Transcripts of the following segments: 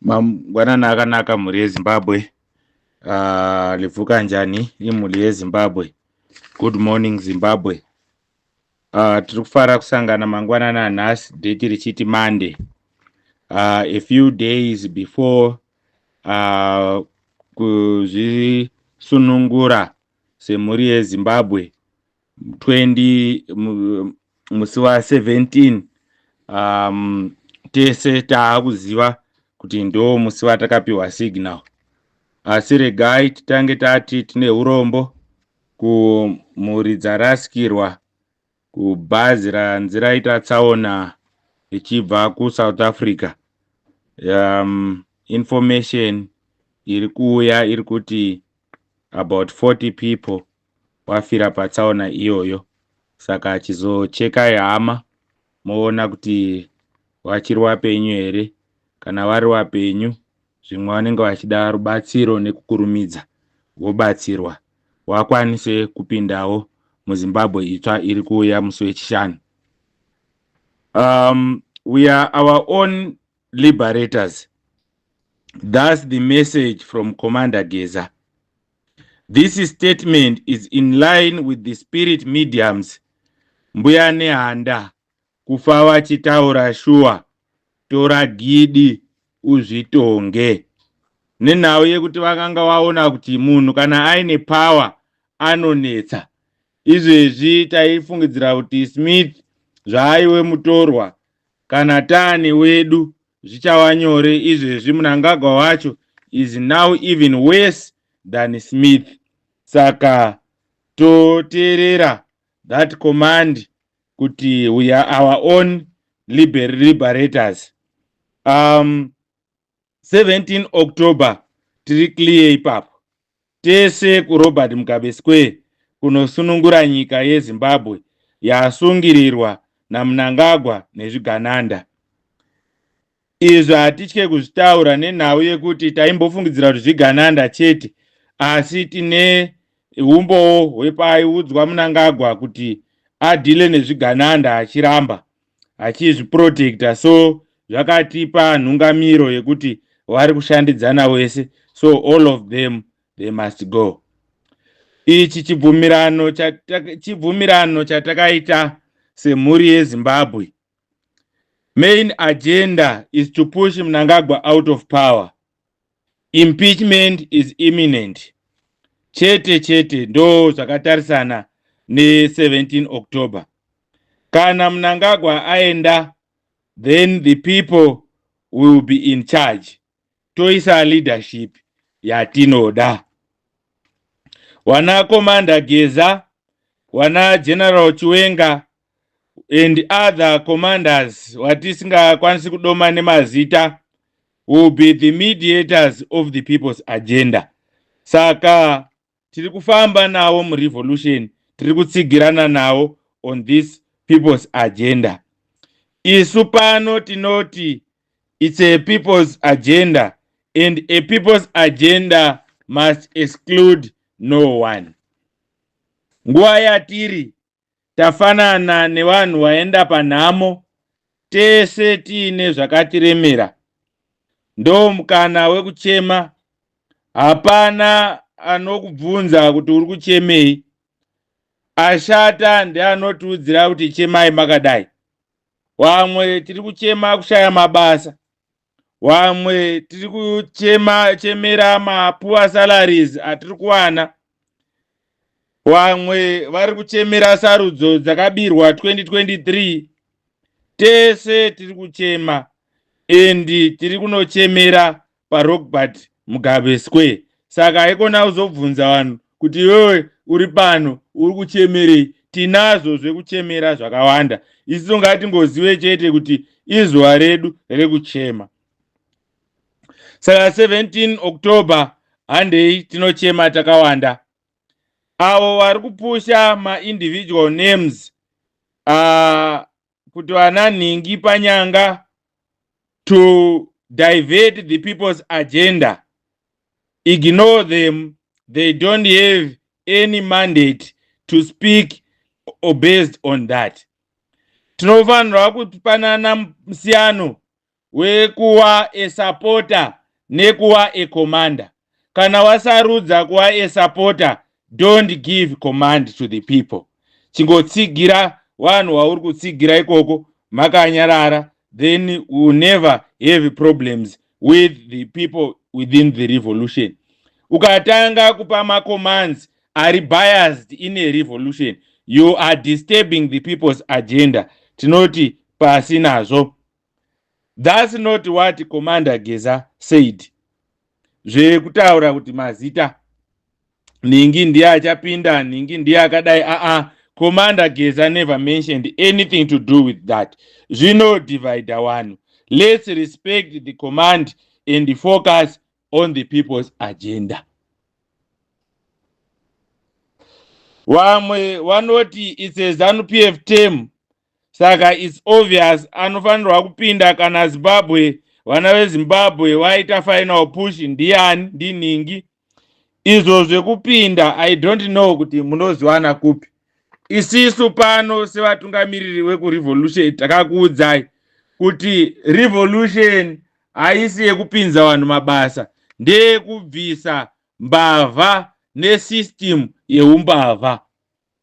Mangwanana akanaka mhuri yeZimbabwe. Uh, livuka njani imhuri yeZimbabwe. Good morning Zimbabwe. Uh, tiri kufara kusangana mangwanana nhasi date richiti Monday. Uh, a few days before uh, kuzvisunungura semhuri yeZimbabwe 20 musi wa 17 um, tese taakuziva kuti ndo musi watakapiwa signal asi regai titange tati tine urombo kumhuri dzarasikirwa kubhazi ranzi raita tsaona ichibva kusouth africa um, information iri kuuya iri kuti about 40 people wafira patsaona iyoyo saka achizochekai hama moona kuti vachiri wapenyu here kana vari wapenyu zvimwe vanenge vachida rubatsiro nekukurumidza vobatsirwa wakwanise kupindawo muzimbabwe itsva iri kuuya musi wechishanu um, we are our own liberators thus the message from commander geza This statement is in line with the spirit mediums mbuya nehanda kufa vachitaura shuwa tora gidi uzvitonge nenhau yekuti vakanga vaona kuti munhu kana aine power anonetsa izvezvi taifungidzira kuti smith zvaaiwe mutorwa kana tane wedu zvichava nyore izvezvi munangagwa wacho is now even worse than smith saka toteerera that command kuti we are our own liber liberators um, 17 october tiri clear ipapo tese kuRobert Mugabe Square kunosunungura nyika yeZimbabwe yasungirirwa naMnangagwa nezvigananda. Izvi hatitye kuzvitaura nenhau yekuti taimbofungidzira kuti zvigananda chete asi tine umbowo hwepaiudzwa Mnangagwa kuti adhile nezvigananda achiramba achizviprotecta so zvakatipa nhungamiro yekuti wari kushandidzana wese so all of them they must go ichi chibvumirano chibvumirano chatakaita semhuri yezimbabwe main agenda is to push mnangagwa out of power impeachment is imminent chete chete ndo zvakatarisana ne17 october kana mnangagwa aenda then the people will be in charge toisa leadership yatinoda wana commander geza wana general chiwenga and other commanders watisingakwanisi kudoma nemazita will be the mediators of the people's agenda saka tiri kufamba navo murevolution tiri kutsigirana navo on this people's agenda isu pano tinoti it's a people's agenda and a people's agenda must exclude no one nguva yatiri tafanana nevanhu vaenda panhamo tese tiine zvakatiremera ndomukana wekuchema hapana anokubvunza kuti uri kuchemei ashata ndeanotiudzira kuti chemai makadai vamwe tiri kuchema kushaya mabasa wamwe tiri kuchema chemera mapuwa salaries atiri kuwana wamwe vari kuchemera sarudzo dzakabirwa 2023 tese tiri kuchema endi tiri kunochemera parobert Mugabe Square. Saka haikona kuzobvunza vanhu kuti iwewe uri pano uri kuchemerei. Tinazvo zvekuchemera zvakawanda. Isu ngatingozive chete kuti izuva redu rekuchema. Saka 17 October handei tinochema takawanda. Avo vari kupusha ma individual names uh, kuti vana nhingi panyanga to divert the people's agenda ignore them they don't have any mandate to speak or based on that tinofanirwa kupanana musiyano wekuva a supporter nekuva a commander kana wasarudza kuva a supporter don't give command to the people chingotsigira vanhu wauri kutsigira ikoko makanyarara then we will never have problems with the people within the revolution ukatanga kupa macommands ari biased in a revolution you are disturbing the people's agenda tinoti pasi nazvo That's not what Commander Geza said. Zvekutaura kuti mazita Ningi ndiye achapinda, Ningi ndiye akadai a ah, a ah. Commander Geza never mentioned anything to do with that. Zvino divide one. Let's respect the command and the focus on the people's agenda. Vamwe vanoti it's a ZANU PF term saka its obvious anofanirwa kupinda kana zimbabwe vana vezimbabwe vaita final push ndiyani ndinhingi izvo zvekupinda i don't know kuti munozivana kupi isisu pano sevatungamiriri vekurevolution takakuudzai kuti revolution haisi yekupinza vanhu mabasa ndeyekubvisa mbavha nesystem yeumbavha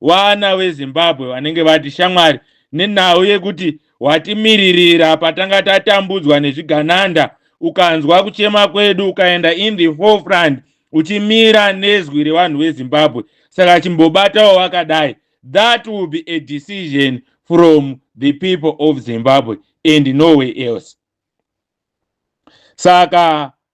Vana veZimbabwe vanenge vati shamwari nenhau yekuti watimiririra patanga tatambudzwa nezvigananda ukanzwa kuchema kwedu ukaenda in the forefront uchimira nezwi revanhu veZimbabwe saka chimbobatawo vakadai that will be a decision from the people of Zimbabwe and no way else saka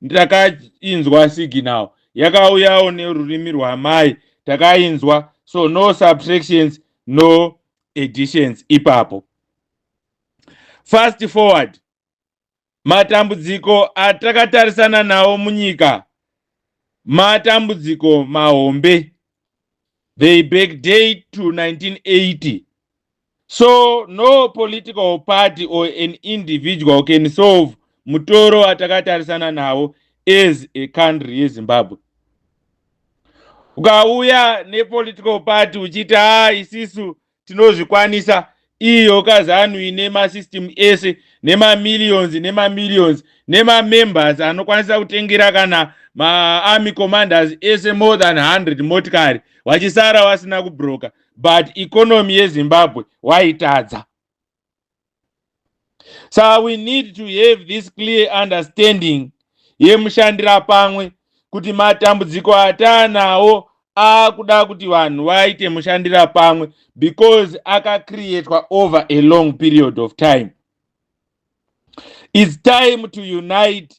ndakainzwa signal yakauyawo nerurimi rwamai takainzwa so no subtractions no editions ipapo fast forward matambudziko atakatarisana nawo munyika matambudziko mahombe they backdate to 1980 So no political party or an individual can solve mutoro watakatarisana nawo as a country yeZimbabwe. Ukauya nepolitical party uchiti haa isisu tinozvikwanisa iyo kazanu ine masystem ese nemamillions nemamillions nemamembers anokwanisa kutengera kana maarmy commanders ese more than 100 motikari vachisara vasina kubroka but economy yezimbabwe waitadza sa we need to have this clear understanding yemushandira pamwe kuti matambudziko ataanawo akuda kuti vanhu vaite mushandira pamwe because akacreatwa over a long period of time its time to unite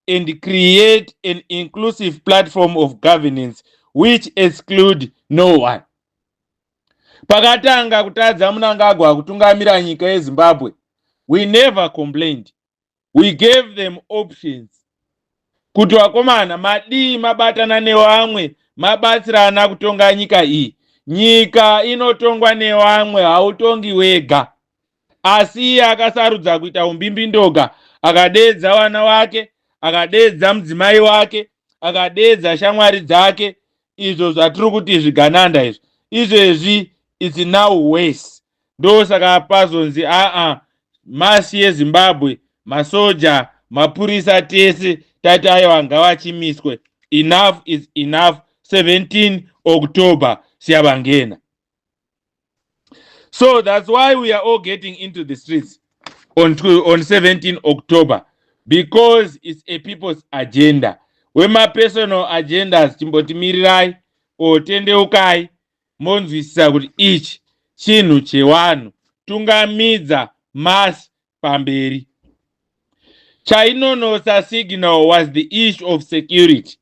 and create an inclusive platform of governance which exclude no one pakatanga kutadza munangagwa kutungamira nyika yezimbabwe we never complained we gave them options kuti vakomana madii mabatana nevamwe mabatsirana kutonga nyika iyi nyika inotongwa nevamwe hautongi wega Asi iye akasarudza kuita umbimbindoga, akadeedza vana vake, akadeedza mudzimai wake, akadeedza shamwari dzake, izvo zvatiri kuti zvigananda izvo. Izvezvi it's now worse. Ndosaka pazonzi aa masi yeZimbabwe, masoja, mapurisa tese tati aiwa ngavachimiswe. Enough is enough 17 October siyabangena. so that's why we are all getting into the streets on, on 17 october because it's a people's agenda wemapersonal agendas timbotimirirayai or tendeukai monzwisisa kuti ichi chinhu chewanhu tungamidza mass pamberi chainonosa signal was the issue of security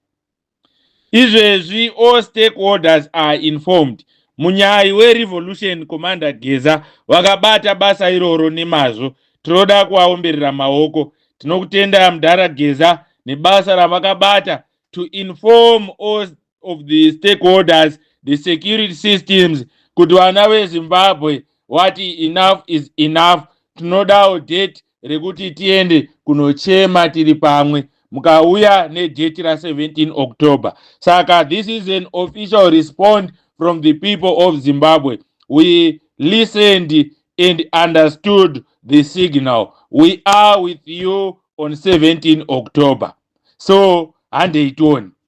izvezvi all stakeholders are informed munyayi werevolution commander geza vakabata basa iroro nemazvo tinoda kuvaomberera maoko tinokutenda mdara geza nebasa ravakabata to inform all of the stakeholders, the security systems, kuti vana vezimbabwe wati enough is enough tinodawo date rekuti tiende kunochema tiri pamwe mukauya nedate ra17 october saka this is an official response from the people of zimbabwe we listened and understood the signal we are with you on 17 october so handei tione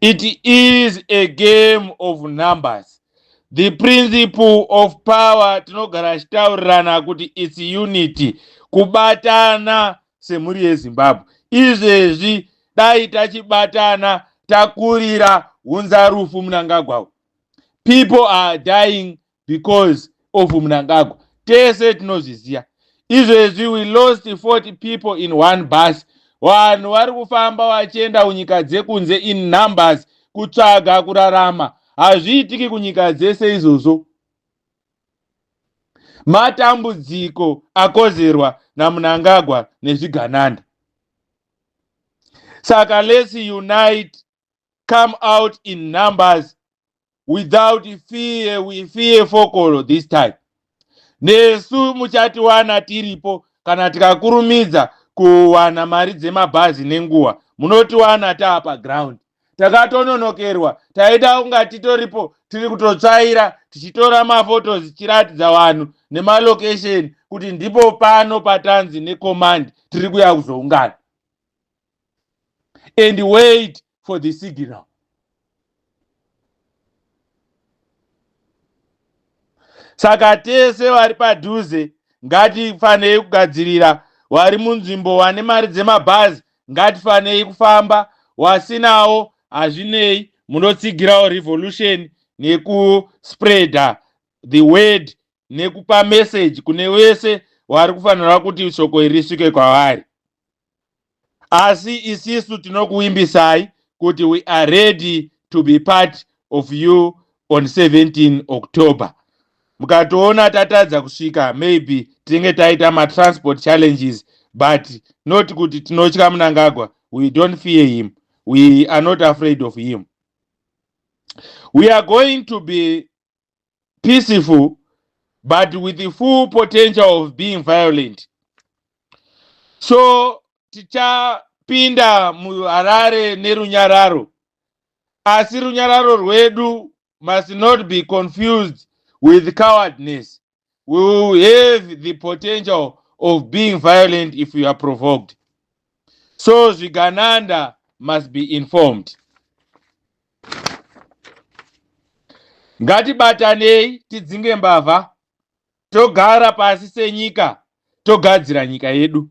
It is a game of numbers. The principle of power tinogara achitaurirana kuti its unity, kubatana semhuri yeZimbabwe. Izvezvi dai tachibatana takurira hunzarufu munangagwa. People are dying because of mnangagwa tese tinozviziva izvezvi we lost 40 people in one bus vanhu vari kufamba vachienda kunyika dzekunze in numbers kutsvaga kurarama hazviitiki kunyika dzese izvozvo matambudziko akozerwa namunangagwa nezvigananda saka let's unite come out in numbers without fear we fear fokolo this time nesu muchatiwana tiripo kana tikakurumidza kuwana mari dzemabhazi nenguva munotiwana taapa ground takatononokerwa taida kunga titoripo tiri kutotsvaira tichitora mafotos tichiratidza vanhu nemalocation kuti ndipo pano patanzi necommand tiri kuya kuzoungana and wait for the signal saka tese vari padhuze ngatifanei kugadzirira wari munzvimbo wane mari dzemabhazi ngatifanei kufamba wasinawo hazvinei munotsigirawo revolution nekuspreader the word nekupa message kune wese wari kufanirwa kuti shoko iri risvike kwavari asi isisu tinokuimbisai kuti we are ready to be part of you on 17 october mukatoona tatadza kusvika maybe tinenge taita matransport challenges but not kuti tinotya munangagwa we don't fear him we are not afraid of him we are going to be peaceful but with the full potential of being violent so tichapinda muharare nerunyararo asi runyararo rwedu must not be confused with cowardness we will have the potential of being violent if we are provoked so zvigananda must be informed ngatibatanei tidzinge mbavha togara pasi senyika togadzira nyika yedu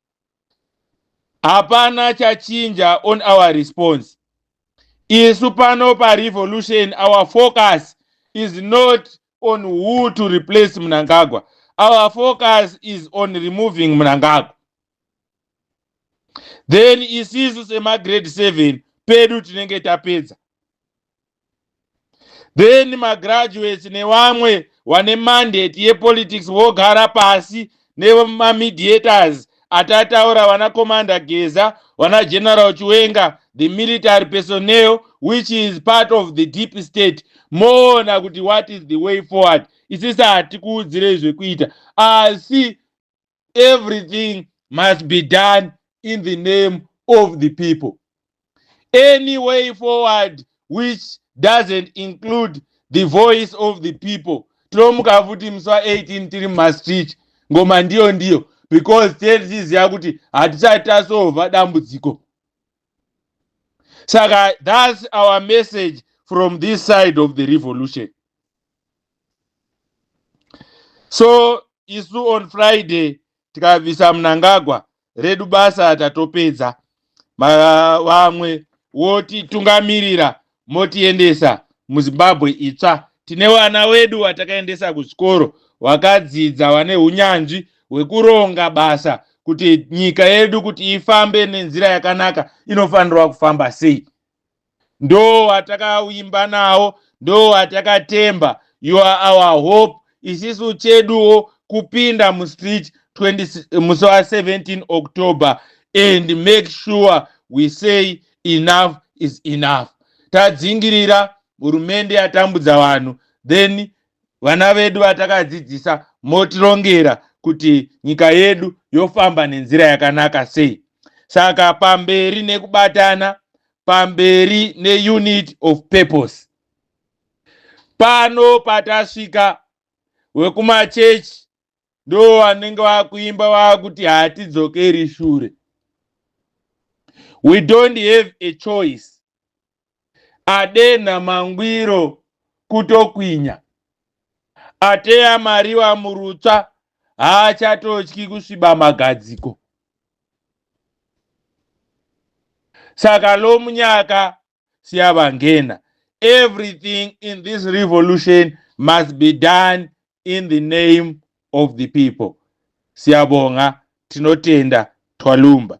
hapana chachinja on our response isu pano parevolution our focus is not on who to replace mnangagwa our focus is on removing mnangagwa then isisu semagrade 7 pedu tinenge tapedza then magraduates nevamwe wane mandate yepolitics vogara pasi nemamediators atataura vana commander geza vana general chiwenga the military personnel which is part of the deep state moona kuti what is the way forward isisa hatikuudzirei zvekuita asi everything must be done in the name of the people any way forward which doesn't include the voice of the people tinomuka futi musi wa 18 tiri mumastreet ngoma ndiyo ndiyo because tee tichiziva kuti hatisati tasova dambudziko saka thats our message from this side of the revolution so isu on friday tikabvisa munangagwa redu basa tatopedza vamwe wotitungamirira motiendesa muzimbabwe itsva tine vana wedu watakaendesa kuzvikoro wakadzidza wane unyanzvi hwekuronga basa kuti nyika yedu kuti ifambe nenzira yakanaka inofanirwa kufamba sei ndo atakaimba nawo ndo atakatemba you are our hope isisu cheduwo kupinda mustreet 20 musi wa 17 october and make sure we say enough is enough tadzingirira hurumende yatambudza vanhu then vana vedu vatakadzidzisa motirongera kuti nyika yedu yofamba nenzira yakanaka sei saka pamberi nekubatana pamberi neunit of purpose pano patasvika wekumachechi ndo vanenge vakuimba vakuti hatidzokeri shure we don't have a choice adenha mangwiro kutokwinya ateya mariwa murutsva haachatotyi kusviba magadziko saka lo munyaka siyavangena everything in this revolution must be done in the name of the people siyabonga tinotenda twalumba